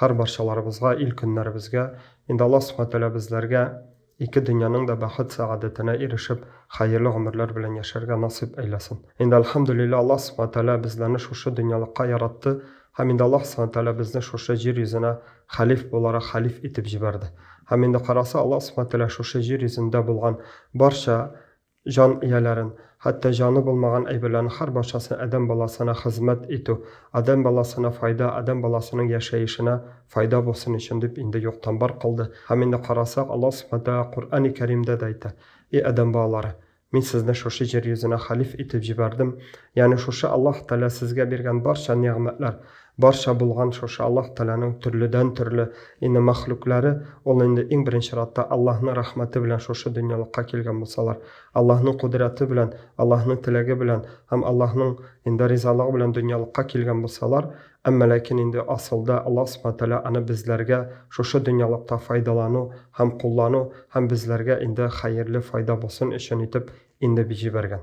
Һәр барчаларыбызга, ил-көннәребезгә, инде Аллаһ Субхана Тәгалә безләргә ике дөньяның да бәхет-сәгадәтенә ирешеп, хәерле гомерләр белән яшәргә насыйп әйләсен. Инде Әлхәмдүлилләһ, Аллаһ Субхана Тәгалә безләрне шушы дөньялыкка яратты һәм инде Аллаһ Субхана Тәгалә безне шушы җир йөзенә хәлиф буларак хәлиф итеп җибәрде. Һәм инде караса, Аллаһ Субхана Тәгалә шушы җир йөзендә булган барча Җан ияләрен, хәтта җаны булмаган әйберләрнең һәр барчасын адәм баласына хезмәт итү, адәм баласына файда, адәм баласының яшәешенә файда булсын өчен дип инде юктан-бар кылды. Һәм инде карасак, Аллаһ Субхана Тәгалә Коръәни Кәримдә дә әйтә, Эй адәм балалары! Мин сезне шушы җир йөзенә хәлиф итеп җибәрдем, ягъни шушы Аллаһ Тәгалә сезгә биргән барча нигъмәтләр, Барча булган шушы Аллаһ Тәгаләнең төрледән-төрле инде мәхлукләре, ул инде иң беренче чиратта Аллаһның рәхмәте белән шушы дөньялыкка килгән булсалар, Аллаһның кодрәте белән, Аллаһның теләге белән һәм Аллаһның инде ризалыгы белән дөньялыкка килгән булсалар, әмма ләкин инде асылда Аллаһ Субхана Тәгалә аны безләргә шушы дөньялыкта файдалану һәм куллану һәм безләргә инде хәерле файда булсын өчен итеп инде җибәргән.